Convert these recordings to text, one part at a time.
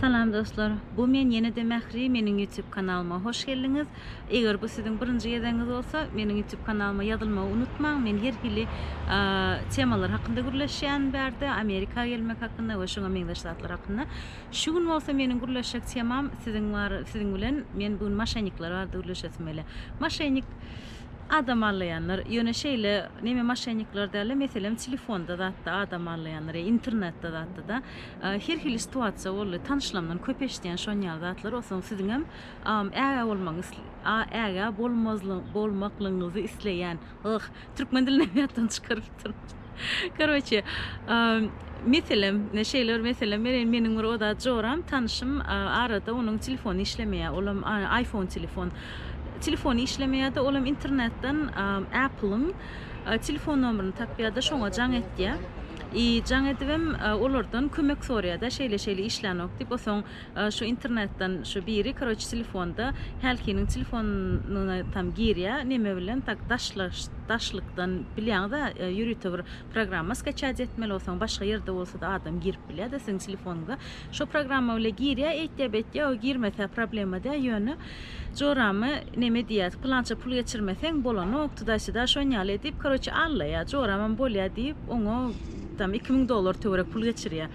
Salam dostlar! Bu men ýene-de Mähri meniň YouTube kanalyma hoş geldiňiz! Eger bu siziň birinji gezegiňiz bolsa meniň YouTube kanalyma ýazylmagy unutmaň men her hili temalar hakynda gürleşýän bärde Amerika gelmek hakynda we şuňa meňzeş zatlar hakynda. Şu gün bolsa meniň gürleşjek temam siziň bar siziň bilen men bu gün maşennikler barada gürleşesim gelýär. Maşennik adam allaýanlar ýöne şeýle neme maşennikler dälde meselem telefonda zatda adam allaýanlar ýa internetde zatda da Her hili situasiýa boldy. Tanyşlamdan köp eşidýän şonýaly zatlary. Onsoň siziňem am ägä bolmagyňyz a ägä bolmazly bolmaklygyňyzy isleýän. Yh, türkmen dilinäm ýatdan çykarypdyryn. Karoçe, meselem, şeýle bir meselem bereýin, meniň bir oda joram, tanyşym, arada onuň telefony işlemeýär, olam aýfon telefon. Telefony işlemeýär-de, olam internetden Apple-yň Telefon nomerini tapýada şoňa jaň etýä. I jaň edibem olardan kömek soraýada şeýle şeýle işlänok diýip osoň şu internetden şu biri karoç telefonda hälkiniň telefonyna tam girýä neme bilen tak daşlaş daşlykdan bilýaňizä ýörite bir programma skaçat etmeli osoň başga ýerde bolsada adam girip bilýada siziň telefonyňyza şo programma bile girýä eýtýä beýtýä o girmese problema dä ýöne Joramy neme diýýäs, pylança pul geçirmeseň bolanokdy da sida şon ýaly edip, koroçe allaýar, joramam bolýar diýip, oňa tam iki müň dollar töwerek pul geçirýär.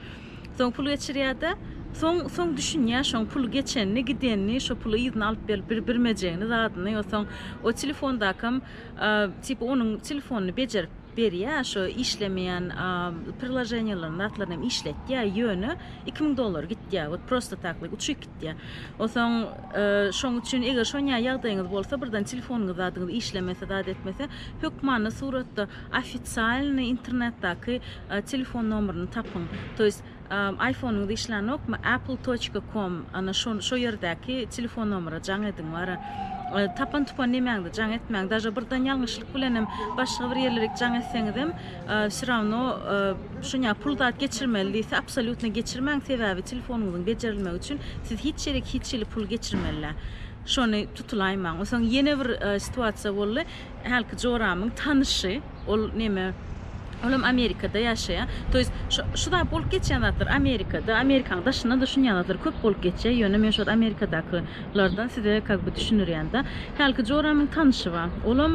Soň pul geçirýär-de, soň soň düşünýär şoň pul geçenini, gidenini, şo puly yzyna alyp berip bir birmejegini, zadyny, ýo soň o telefondakam, tipa onuň telefonyny bejerip, berýä şu işlemeýän priloženiýalaryny zatlaryny hem işletýä ýöne iki müň dollar gitýä wot prosto taklyk uçyk gitýä osaň şoň üçin eger şonýa ýagdaýyňyz bolsa birden telefonuňyz zadyňyz işlemese zat etmese hökmany suratda ofitsialny internetdaky telefon nomeryny tapyň to ýest Aýfonyňyz işlänokmy apple toçka kom ana şo şo ýerdäki telefon nomera jaň ediň wara tapan tupan nemäňde jaň etmäň daže bir dan ýalňyşlyk bilenem başga bir ýerlerik jaň etseňizem wsýrawno şuňa pul zat geçirmeli diýse absolýutno geçirmäň sebäbi telefonyňyzyň bejerilmegi üçin siz hiç ýerik hiç hili pul geçirmelä şony tutulaýmaň wsoň ýene bir situasiýa boldy hälki joramyň tanyşy. Ol neme Olam Amerikada ýaşaýa. To ýest şu şu zat bolup geçýän zatlar Amerikada, Amerikanyň daşynda da şunýan zatlar köp bolup geçýä. Ýöne men şol Amerikadaky lardan size kak by düşünirýända. Hälki joramyň tanyşy ba. Olam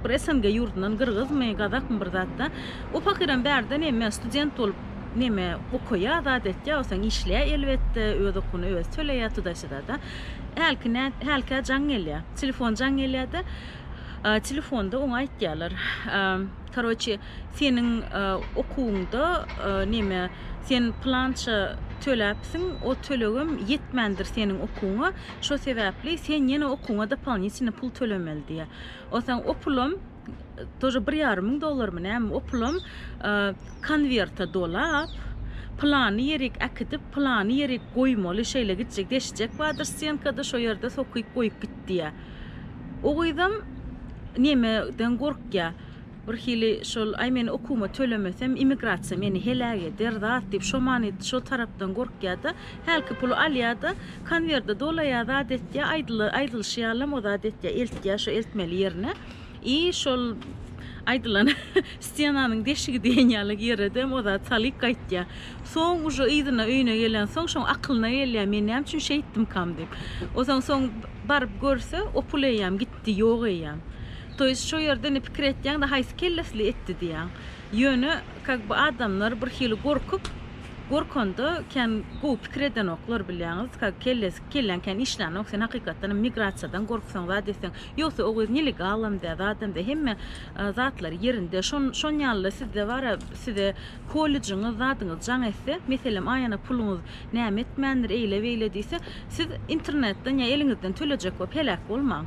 bir SNG ýurdundan gyrgyzmy, gazakmy bir zatda. O pahyram bärde neme student bolup neme okaýa zat etýä osaň işleýä elbetde öz okuny öz töleýä tuda-syda da. Hälki nä hälkä jaň gelýä. Telefon jaň gelýä de. Telefonda oňa aýtýarlar, Karoçe, seniň okuwyňda neme, sen pylança töläpsiň, o tölegem ýetmändir seniň okuwyňa, şo sebäpli sen ýene okuwyňa dopolinitine pul tölemeli diýýär. Onsoň o pulam, тоже bir ýarym müň dollarmy näme, o pulam konwerta dolap, pylany ýerik äkidip, pylany ýerik goýmaly, şeýle gitjek, deşjek bardyr stenkada, şo ýerde sokyp goýup git diýýär. O gyzam nemeden gorkýa, birhili şol, aý men okuwyma tölemesem immigrasiýa meni heläk eder zat diýip şo many şo tarapdan gorkýa-da, hälki puly alýa-da, konwerde dolaýa zat etýä, aýdylyşy ýalam o zat etýä, eltýä şo eltmeli ýerine. I şol aýdylan stenanyň deşigi diýen ýaly ýeredem o zat salyk gaýtýa. Soň uje yzyna öýüne gelensoň şoň akylyna gelýä men näme üçin şeýtdimkam diýip. Ozaň soň baryp görse opul eýýäm gitdi ýok eýýäm. To ýest şo ýerde indi pikir etýäňdä haýsy kellesli etdi diýýäň. Ýöne kak by adamlar bir hili gorkup gorkanda kän gowy pikir edenoklar bilýäňiz kak kelläň kän işlänok sen hakykatdanam migrasiýadan gorksaň zat etseň Ýogsa o göz nelegalam-da, zadam-da, hemme zatlary ýerinde. Şon, şon ýaly-da sizde bar-a, size kollejiňiz, zadyňyz jaň etse, meselem, aýana puluňyz näme etmändir, eýle-beýle diýse, siz internetden ýa eliňizden tölejek bolup heläk bolmaň.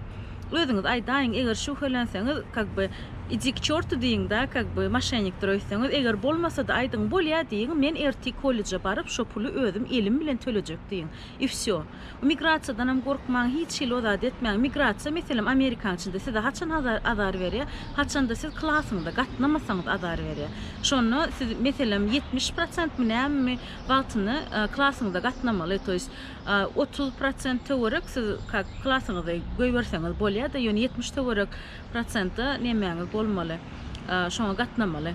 Özüňiz aýdaýyň, eger şübhelenseňiz, kak by, idi k çortu diýiň-dä, kak by, moşennikdir öýtseňiz, eger bolmasa-da aýdyň, bolýa diýiň, men ertir kolleje baryp, şo puly özüm elim bilen tölejek diýiň. I wsýo. Migrasiýadanam gorkmaň, hiç hili o zady etmäň. Migrasiýa, meselem, amerikan içinde size haçan azar berýär? Haçanda siz klasyňyza gatnamasaňyz azar berýär. Şonda siz, meselem, ýetmiş prosentmi nämemi wagtyny klasyňyza gatnamaly, to ýest, otuz prosent töwerek siz kak klasyňyzy goýberseňiz bolýar-da, ýöne ýetmiş töwerek prosenta nemäňiz bolmaly, şoňa gatnamaly.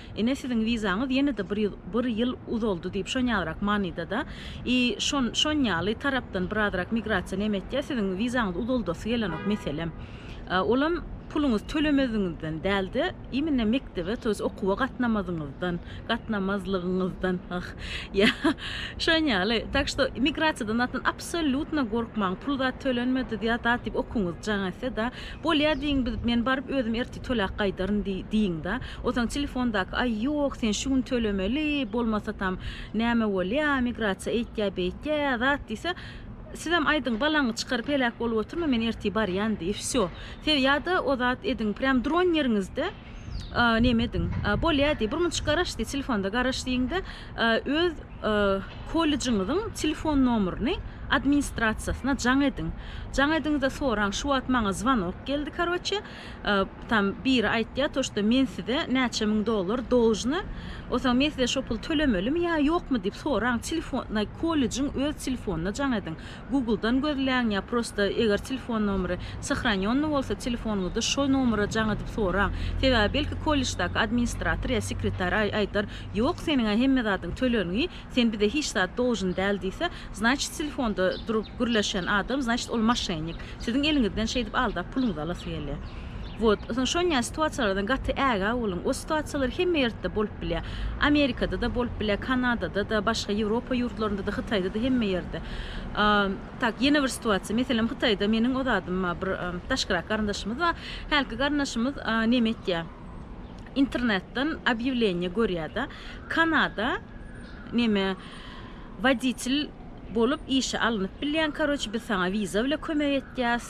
Ine siziň wizaňyz ýene-de bir ýyl bir ýyl uzaldy diýip şonýagrak manyda-da i şon şon ýaly tarapdan birazrak migrasiýa neme etýä siziň wizaňyz uzaldasy gelenok meselem olam puluňyz tölemeziňizden dälde imine mekdebe to ýest okuwa gatnamazyňyzdan gatnamazlygyňyzdan ah ýa şon ýaly tak što migrasiýadan zatdan absolýutno gorkmaň pul zat tölenmedi ýa zat diýip okuňyz jaň etse-da Bolýa diýiň biz, men baryp özüm ertir töläp gaýdaryn diý, diýiň-dä. Otaň telefondaky, Aý, ýok, sen şu gün tölemeli, bolmasatam, näme bolýa, migrasiýa eýtýä, beýtýä, zat diýse, Sizem aýdyň, balaňy çykaryp heläk bolup oturma, men ertir barýan diý, wsýo. Siz ýa-da o zat ediň, prýam duran ýeriňizde, a, neme ediň? A, bolýa diý, birmunçuk garaş diý, telefonda garaş diýiň-de, a, öz, a, kollejiňiziň telefon nomerini administrasiýasyna jaň ediň. Jaň ediň-de soraň, şu wagt maňa zwanok geldi, karoçe, a, tam biri aýtýar, to, şto men size näçe müň dollar dolžny, o soň men size şo puly tölemelimi ýa ýokmy diýip soraň, telefon, kollejiň öz telefonyna jaň ediň. Google-dan gözläň ýa prosta eger telefon nomeri sahranýonny bolsa telefonyňyzda şo nomera jaň edip soraň. Sebäbi belki kolleždaky administrator ýa sekretar aýdar ýok seniň-ä hemme zadyň tölengi sen bize hiç zat doljyn däl diýse znaçit telefonda durup gürleşen adam znaçit ol maşennik siziň eliňizden şeýdip aldap puluňyzy alasy gelýär. Wot, şonýa situasiýalardan gaty ägä boluň. O situasiýalar hemme ýerde bolup bilýär. Amerikada-da bolup bilýär, Kanadada-da, başga Ýewropa ýurtlarynda-da, Hytaýda-da, hemme ýerde. Tak, ýene bir situasiýa, meselem, Hytaýda meniň o zadym bar, bir daşkyrak garyndaşymyz bar. Hälki garyndaşymyz näme etýär? Internetden obýawleniýe görýär-de, Kanada näme, woditel bolup işe alnyp bilýäň, karoç, biz saňa wiza bilen kömek etýäs.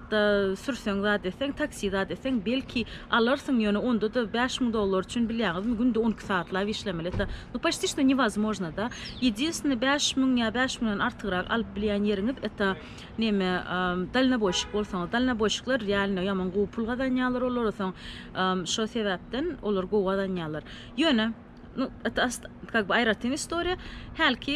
wagtda sürseň zat etseň, taksi zat etseň, belki, alarsyň, ýöne onda-da bäş müň dollar üçin, bilýäňizmi, günde on iki sagatlap işlemeli. Eta, nu, poçti što newozmojno-da. Ýedinstwne, bäş müň ýa bäş müňden artygrak alyp bilýän ýeriňiz, eta, neme, dalnoboýşik bolsaňyz. Dalnoboýşikler, realno, ýaman gowy pul gazanýarlar olar, soň, şo sebäpden, olar gowy gazanýarlar. Ýöne. nu et as kak by aýratyn istoriýa hälki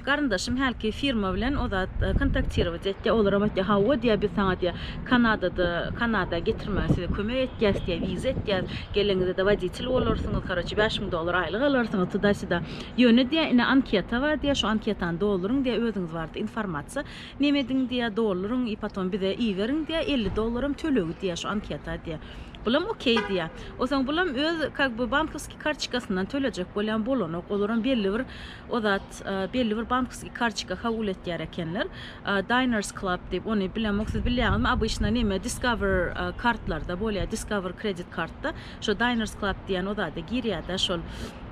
garyndaşym hälki firma bilen o zat kontaktirować etdi olaram aýtdy hawa diýä biz saňa diýä kanadada kanada getirmäge size kömek etýäs diýä wiza etýäs gelenizde woditel bolarsyňyz karoçe bäş müň dollar aýlyk alarsyňyz tuda sida ýöne diýä ine anketa bar diýä şu anketany dolduryň diýä özüňiz barada informasiýa neme ediň diýä dolduryň i potom bize iberiň diýä elli dollaram tölegi diýä şu anketa diýä Bulam okey diýýä. Osaň bulam öz kak by bankoskiý kartçikasyndan tölejek bolýan bolanok. Olaram belli bir o zat belli bir bankoskiý kartçika kabul etýär ekenler. Diners Club diýip ony bilemok. Siz bilýäňizmi? Obyçna näme Discover kartlarda bolýa. Discover kredit kartda. Şo Diners Club diýen o zada girýädä şol.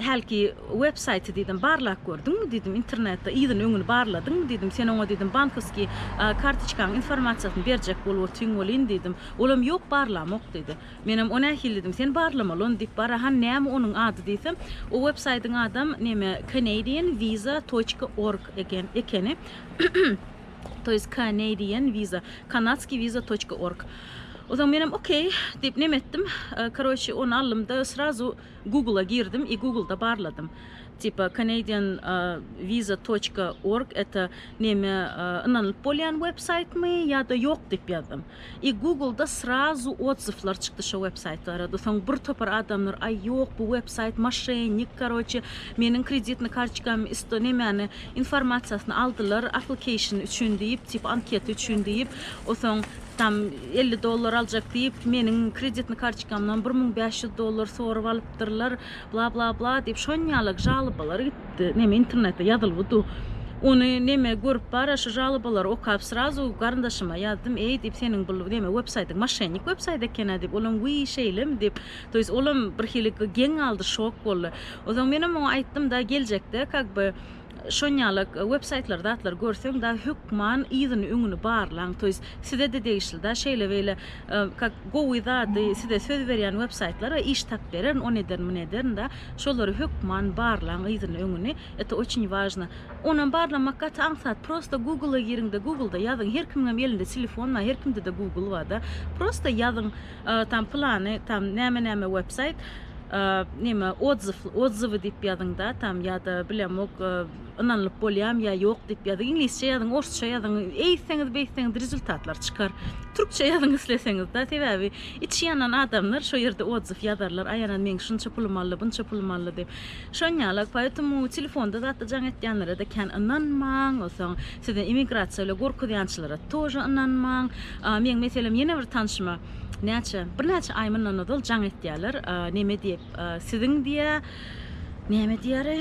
Hälki websaýty diýdim, barlap gördüňmi diýdim, internetde yzyny-öňüni barladyňmy diýdim, sen oňa diýdim, bankowskiý kartoçkaň informasiýasyny berjek bolup otyň welin diýdim, olam ýok barlamok diýdi. Menem o nähili diýdim, sen barlamaly ony diýip bara, hany näme onuň ady diýsem, o websaýtyň adam neme Canadian visa toçka org eken, ekeni, to ýest Canadian visa, kanadskiý visa toçka org. Onsoň menem okey diýip neme etdim, karoçi ony aldym-da srazu, Google-a girdim i Google-da barladym. Tipa Canadian visa toçka org eta neme ynanylyp bolýan websaýtmy ýa-da ýok diýip ýazdym. I Google-da srazu odzywlar çykdy şo websaýt barada. Soň bir topar adamlar aý ýok bu websaýt maşennik karoçe meniň kreditny karçkamy isto nemäni informasiýasyny aldylar application üçin diýip tipa anketa üçin diýip osaň Tam elli dollar aljak diýip, meniň kreditny karçkamdan bir müň bäş ýüz dollar sorup alypdyrlar, bla bla bla diýip, şonýalak žalobalar gitdi. Neme internetde ýazylgy du. Ony neme görüp bara şu žalobalary okap srazu garyndaşyma ýazdym, eý diýip, seniň bul neme websaýtyň maşennik websaýt ekenä diýip, olam wiý şeýlemi diýip, to ýest olam birhili geň galdy, şok boldy. Onsoň menem oňa aýtdym-da, geljekde kak by Şonýalak websaýtlary zatlary görseň da hökman yzyny öňüni barlaň to ýest size de degişli da şeýle beýle kak gowy zady size söz berýän websaýtlara iş tap bererin on ederin mun ederin da şolary hökman barlaň yzyny öňüni eto oçin wažno onam barlamak gaty aňsat prosta gugla giriňde guglda ýazyň her kimiňem elinde telefon bar her kimde de gugl bar da prosta ýazyň. Tam plany tam näme näme websayt nime odzw odzwy diýip ýazyňda tam ýa-da bilemok ynanylyp bolýam ýa ýok diýip ýazyň iňlisçe ýazyň orsça ýazyň eýtseňiz beýtseňiz rezultatlar çykar türkçe ýazyň isleseňiz da sebäbi içi ýanan adamlar şo ýerde odzw ýazarlar aýanan meň şunça pulum aldy bunça pulum aldy diýip şonýalak poetemu telefonda zatda jaň etýänlere-de kän ynanmaň osaň size emigrasiýa ile gorkuzýançylara tože ynanmaň meň meselem ýene bir tanşyma näçe birnäçe aý mundan ozal jaň etýäler neme diýip siziň diýä näme diýäri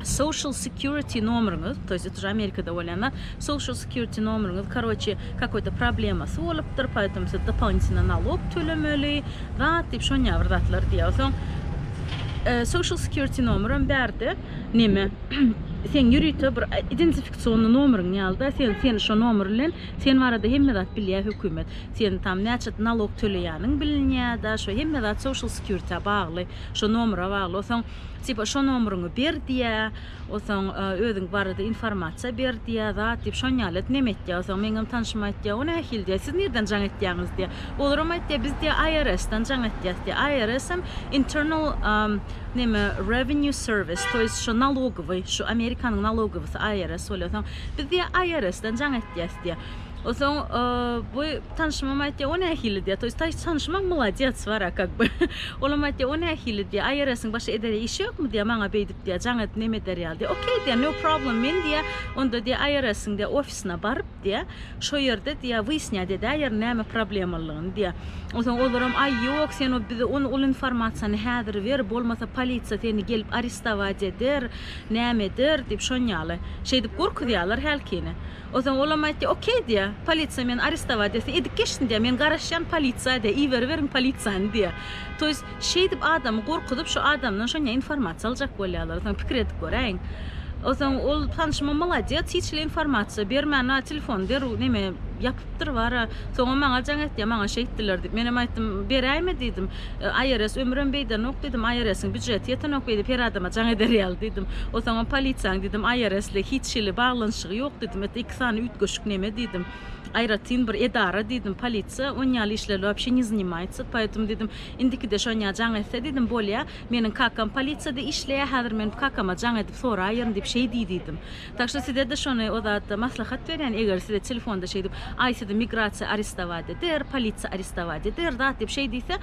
social security nomeriňiz to ýest uje amerikada bolýan zat social security nomeriňiz karoçe kakoý to problemasy bolupdyr poýtom siz dopolinitwna nalog tölemeli zat diýip şonýa bir zatlar diýä soň social security nomerem bärde neme seň ýörite bir identifikasionny nomeriň ýalyda sen sen şo nomer bilen sen barada hemme zat bilýä hökümet sen tam näçe nalog töleýäniň bilinýä da şo hemme zat social security bagly şo nomera bagly osoň tipa şo nomeriňi ber diýä osoň özüň barada informasiýa ber diýä zat diýip şon ýaly et neme etýä osoň meňem tanşym aýtýa o nähili diýä siz nirden jaň etýäňiz diýä olaram aýtýa biz diýä IRS-dan jaň etýäs diýä IRS-em internal Neme revenue service toýs şu nalogowy şu amerikanyň nalogowysy IRS bolýa soň biz diýä IRS dan jaň etýäs diýä. Osoň bu tanşymam aýtýa o nähili diýä toýs taýs tanşymam molodets wara kak by olam aýtýa o nähili diýä IRS-iň başga edere işi ýokmy diýä maňa beýdip diýä jaň edip neme eder ýaly diýä okey diýä no problem men diýä onda diýä IRS-iň diýä ofisine baryp diýä Şo ýerde diýýär, wyýasnýat edäýerin näme problemalygyny diýýär. Onsoň olaram, Aý, ýok, sen o bize ony ol informasiýany häzir ber, bolmasa polisiýa seni gelip aristowac eder, näme eder diýip, şon ýaly. Şeýdip gorkuzýarlar hälkini. Onsoň olam aýtýar, Okey diýýär, polisiýa meni aristowac etse edip geçsin diýýär, men garaşýan polisiýa diýýär, iberiberiň polisiýany diýýär. To ýest, Şeýdip adamy gorkuzyp şu adamdan şonja informasiýa aljak bolýarlar soň pikir edip göräýiň. Soň ol tanşymam molodýes hiç hili informasiýa bermän a telefony derrew neme ýapypdyr bar a soňam maňa jaň etýär maňa şeýtdiler diýip menem aýtdym beräýme diýdim IRS ömrem beýdenok diýdim IRS-iň býujeti ýetenok beýdip her adama jaň eder ýaly diýdim o soňam polisiýaň diýdim IRS-le hiç hili baglanyşygy ýok diýdim et iki sany üýtgeşik neme diýdim aýratyn bir edara diýdim polisiýa onýaly işlerle wapşe ne zanimaýtsa poýtum diýdim Indikide Şonýa jaň etse diýdim, bolýa, meniň kakam polisiýada işleýä, häzir men kakama jaň edip soraýaryn diýip şeý diý diýdim. Tak şu size-de şony o zatda maslahat berýän, eger size telefonda şeýdip, aý sizi migrasiýa aristowaýt eder, polisiýa aristowaýt eder zat diýip şeý diýse,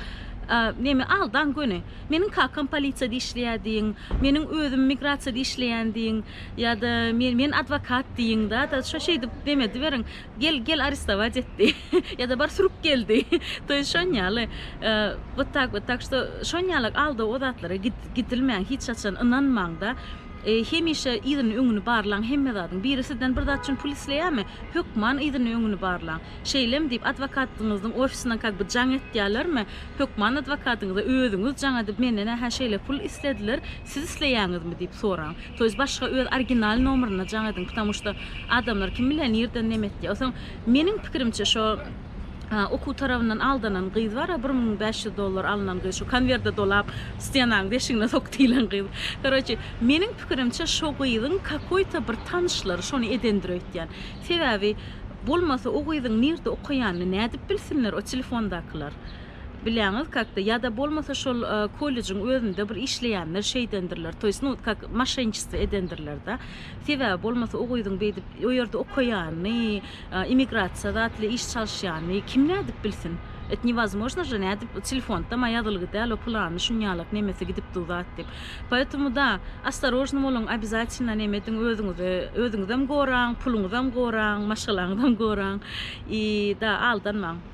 neme aldaň göni. Meniň kakam polisiýada işleýä diýiň, meniň özüm migrasiýada işleýän diýiň, ýa-da men adwokat diýiň-da, da şo şeýdip neme ediberiň. Gel gel arestować etdi ýa-da bar sürüp geldi to ýest şon ýaly wot tak wot tak şto şon ýalak aldaw o zatlara gidilmäň hiç haçan ynanmaňda hemişe yzyny öňüni barlaň hemme zadyň biri sizden bir zat üçin pul isleýämi hökman yzyny öňüni barlaň şeýlem diýip adwokatňyzyň ofisinden kak bir jaň etýälermi hökman adwokatyňyza özüňiz jaň edip menden ähä şeýle pul islediler Siz isleýäňizmi? diýip soraň. To ýest başga öz original nomerinde jaň ediň, ptamu şto adamlar kim bilýär nirden neme etdi. O soň meniň pikirimçe şo okuw tarabyndan aldanan gyz bar a bir müň bäş ýüz dollar alnan gyz şo konwerde dolap stenanyň deşigine sok diýilen gyz. Karoçi meniň pikirimçe şo gyzyň kakoý to bir tanyşlary şony edendir öýtýän. Sebäbi bolmasa o gyzyň nirde okaýanyny nädip bilsinler o telefondakylar. Bilýäňiz kakda ýada bolmasa şol kollejiň özünde bir işleýänler şeýdendirler toýs nu kak maşenniçestvo edendirlerde sebäbi bolmasa o gyzyň beýdip o ýerde okaýany immigrasiýa zatly iş çalyşýany kim nädip bilsin et newozmojno je nädip telefonda ma ýazylgy däl o pylany şunýalak nemesi gidip dur zat diýip poýetomu da ostarožno boluň obýazatýlna neme ediň özüňizi özüňizem goraň puluňyzam goraň maşgalaňyzam goraň i da aldanmaň.